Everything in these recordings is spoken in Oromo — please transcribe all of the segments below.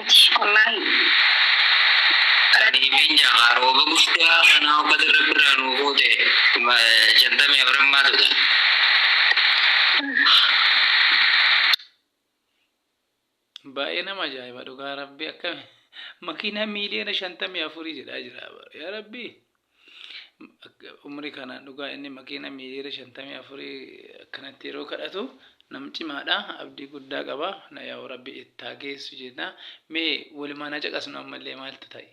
Wallaahi. Radifi nyamaa rooba guddaa kanaa ummata rabbi irraa nuu fuute kuma shantamii afran maatu ta. Baay'ee nama ajaa'iba dhugaa rabbi akkami makiinaa miiliyoona shantamii afurii jedhaa jira bar yaa rabbii. umrii kanaan dhugaa inni makiina miiliyoona shantamii afurii akkanatti yeroo kadhatu nam cimaadha abdii guddaa qaba na yaa'u rabbi ittaa geessu jenna mee walumaan haa caqasnu ammallee maaltu ta'e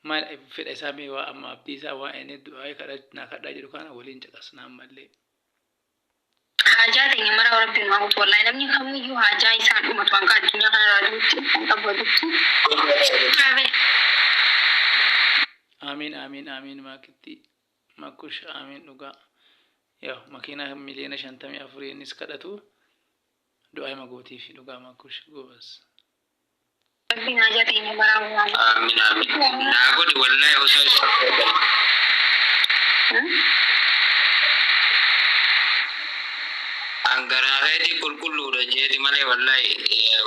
maal fedha isaa mee waa amma abdii isaa waa inni du'aa'ee kadha naa kadhaa jedhu kana waliin caqasna ammallee. Haajaa teenya maraaf Rabbi nu haa guutu wallahi namni kamuyyuu haajaa isaa hin dhumatu hanga addunyaa kanarraa du'utti kan qabu walitti qabe. Aamiin Aamiin Aamiin Maakitti Makush Aamiin dhugaa Yaw makiinaa miliyoona shantamii afurii innis kadhatu du'aa'ima gootiifi dhugaa Makush goobaz. Rabbiin haajaa teenya maraa nuu haa guutu. Aamiin aamiin naa godhi wallahi osoo is An garaa keeti qulqulluudha jeeti malee wallahi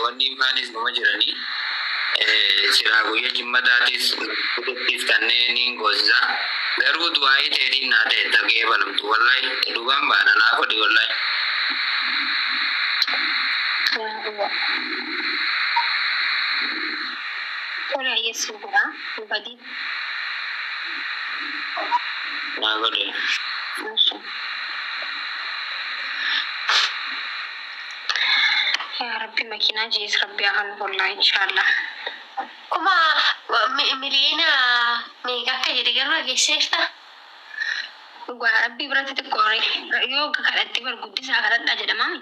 wanniin faanis numa jiranii silaa guyya jimmataatis guddattiif tannee niin goosisa garuu du'aa'ii teetiin naa ta'e tagee balamtu wallahi dhugaan baana naa godhi wallahi. Yaa Allah. Tole ayyee sin godha hin badin. Naa godhi. Eshi. Yaa rabbi makiinaa jees rabbi haa kanu hollaa inshaallah. Kuma mi- miliyoona meeqa akka jedhe garuu dhageesseerta? Dhugaa rabbii biratti xiqqoore yoo kadhatte bar guddisaa kadhadhaa jedhamaami.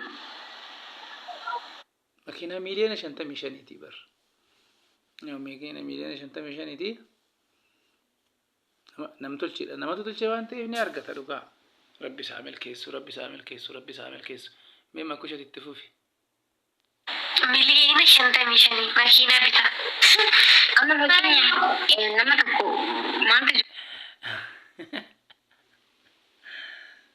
Makiinaa miiliyoona shantamii shaniitii bar. Makiinaa miiliyoona shantamii shaniitii namtolcheedha. Namatu tolchee waan ta'eef ni argata dhugaa. Rabbi isaa milkeessu, rabbi isaa milkeessu, rabbi isaa milkeessu. Mee makushati itti fufi. Miliyoona shantamii shanii makiinaa bitaa. Amma fakkeenyaaf nama tokko maantu jira.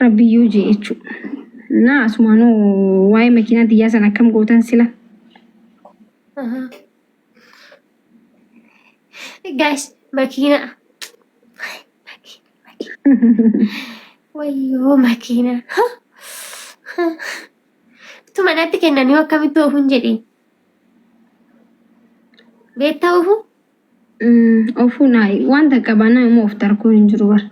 Rabbi yoo jee jechuu. Naa asumaanuu waa'ee makiinaa tiyyaa san akkam gootan sila. Aha. Guys, makiina. Wayyoo makiina. Tu manatti kennanii akkamitti oofuun jedhee. Beektaa oofuu? Ofuu naayi waan takka baanaa immoo of tarkuu hin jiru bar.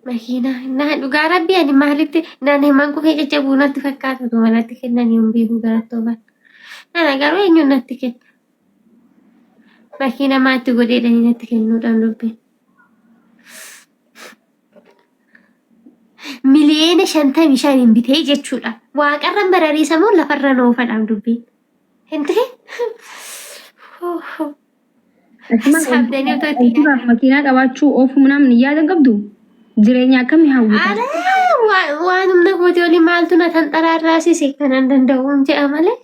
Makiinaa naa dhugaa rabbi ani maalitti naan himan kufee jajjabuu natti fakkaatu utuma natti kennan hin beeku garattooman. Nana garuu eenyuun natti kenna. Makiina maatti godheedhanii natti kennuudhaan dubbiin. miliyeena shantamii shan hin bitee jechuudha. Waaqarran barariisa moo lafarra noofadhaam dubbiin. Hin ta'e? Saabdanii otoo itti Duraaf makiinaa qabaachuu oofuu namni yaada qabdu jireenya akkamii hawwata? Ala waan humna kooti olii maaltu na tanxaraarraasise kanan danda'uun jedha malee.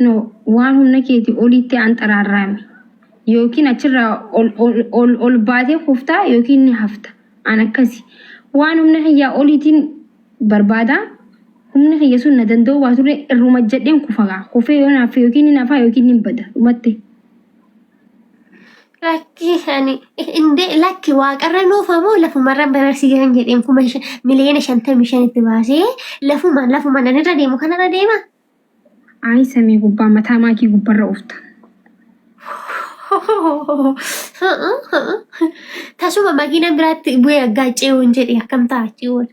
no waan humna keetii oliitti anxaraarraami yookiin achirraa ol, ol, ol, ol baatee kuftaa yookiin ni hafta an akkasi waan humna kiyyaa oliitiin barbaada humni kiyya sun na danda'uu baaturre irruma jedheen kufagaa kufee yoo naaffe yookiin ni nafaa yookiin ni bada dhumatte Lakki ani indee lakki waaqarra nuufa moo lafumarra bararsiisan jedheen kuma miliyoona shantamii shan itti baasee lafuma lafuma nan irra deemu kanarra deema. Ayi samii gubbaa mataa maakii gubbarra oofta. Tasuma makiinaan biraatti bu'ee aggaacee hin jedhe akkam ta'a achi oola.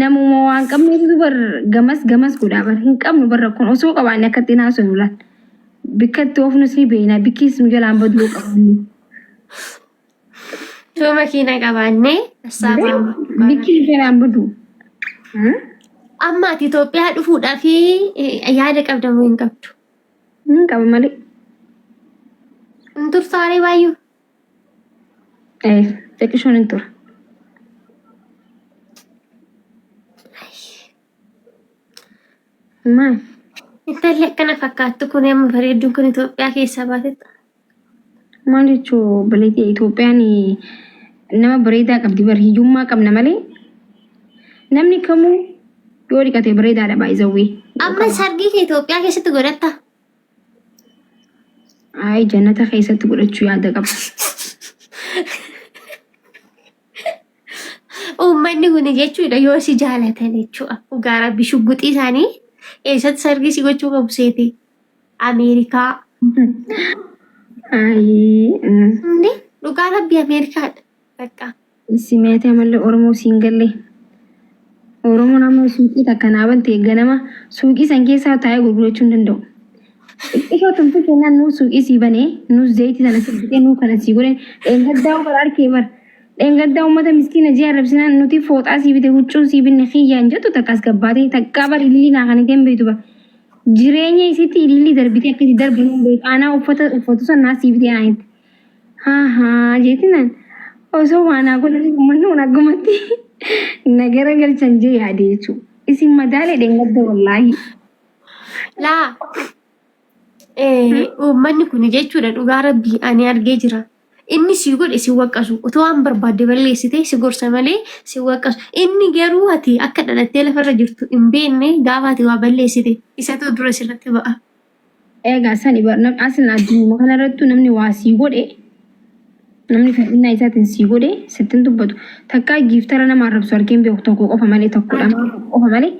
Namuma waan qabneetu bar gamas gamas godhaa bar hin qabnu bar rakkoon osoo qabaanne akka ittiin haasofnu laal. Bikka itti oofnus ni beekna bikkiis nu jalaan baduu yoo qabaanne. Yoo makiina qabaanne assaa baama. Bikki nu jalaan baduu. Amma ati Itoophiyaa dhufuudhaaf yaada qabda moo hin qabdu? Hin qaba malee. Hin tursaaree baay'ee. Xiqqishoon hin tura. Maal? Intalli akkana fakkaattu kun amma bareedduun kun Itoophiyaa keessaa baatetti. Maal jechuun obboleettii Itoophiyaan nama bareedaa qabdi bar hiyyummaa qabna malee namni kamuu yoo dhiqate bareedaadha baay'isawwee. Amma sargii kee Itoophiyaa keessatti godhatta. Ayi jannata keessatti godhachuu yaada qaba. Uummanni kun jechuudha yoo si jaalatan jechuudha. Dhugaa rabbi shugguxii isaanii eessatti sargii si gochuu qabu seete Ameerikaa. Ayi. Inni dhugaa rabbi Ameerikaadha. Bakka Simeetee amallee Oromoo siin gallee. Oromoon amma suuqii takka naa bante ganama suuqii san keessaa taa'ee gurgurachuu hin danda'u. Xiqqishoo tumtuu kennaan nuu suuqii sii bane nuu zayitii sana sii bitee nuu kana sii godhe dheengaddaa bara arkee bara. Dheengaddaa uummata miskiina jee arrabsinaan nuti fooxaa sii bite huccuu sii binne kiyyaan jettu takkaas gabbaatee takkaa bara ilillii naa kan hin beektu bara. Jireenya isiitti ilillii darbitee akkasii darbu hin beeku. Aanaa uffata uffatu san naa sii bitee naa jette. Ahaa jeetinaan osoo waan haa godhan uummanni kun akkumatti na gara galchan jee yaade jechuu. Isin madaalee dheengadda wallaahi. Laa uummanni kun jechuudha dhugaa rabbii ani argee jira. Inni si godhe si waqqasu otoo waan barbaadde balleessite si gorsa malee si waqqasu. Inni garuu ati akka dhalattee lafarra jirtu hin beekne gaafa ati waa balleessite isatu dura sirratti ba'a. Eegaa sani bar nam aslan addunuma kana irrattu namni waa sii godhe namni fedhinnaa isaatiin sii godhe sittin dubbatu takkaa giiftara nama arrabsu argeen beeku tokko qofa malee tokko dhama qofa malee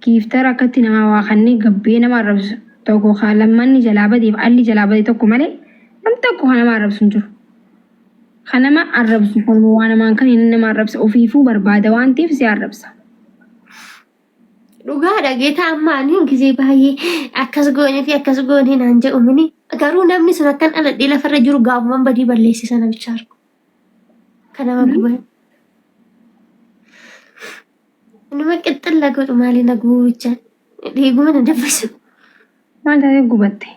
giiftara akkatti namaa waa kannee gabbee nama arrabsu tokko kaa lammanni jalaa badeef alli jalaa bade tokko malee nam tokko kan nama arrabsu hin jiru. Kan nama arrabsu kanuma waa namaan kan inni nama arrabsa ofiifuu barbaada waan ta'eef si arrabsa. Dhugaadha geetaa amma ani gisee baay'ee akkas goonee fi akkas goonee naan jedhu mini garuu namni sun akkan dhaladhee lafarra jiru gaafuman badii balleesse sana bichaa argu. Kan nama guban. Nama qixxilla godhu maali na gubuu bichaan. Dhiiguma na dabbasu. Maal taatee gubatte?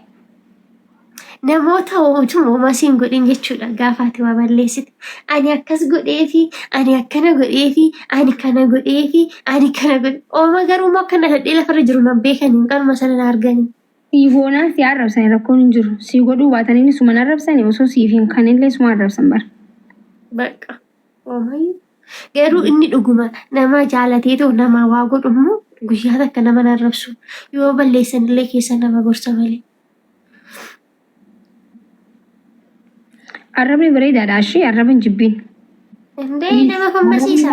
Namoota utuma homaa si hin godhin jechuudha gaafa ati waa balleessite. Ani akkas godheefi, ani akkana godheefi, ani kana godheefi, ani kana godhe. Ooma garuu immoo akka nadhee lafarra jiru nan beekani qaruma sana na argani. Siif oonaan si arrabsani rakkoon hin jiru. Si godhuu baataniin suma na arrabsani osoo siif hin kanillee suma arrabsan bara. Bakka oomayyuu. Garuu inni dhuguma nama jaalateetoo namaa waa godhu immoo guyyaa takka nama hin arrabsu. Yoo balleessan illee keessa nama gorsa malee. Arrabni bareedaadha ashii arraba hin jibbiin. Indee nama fammasiisa.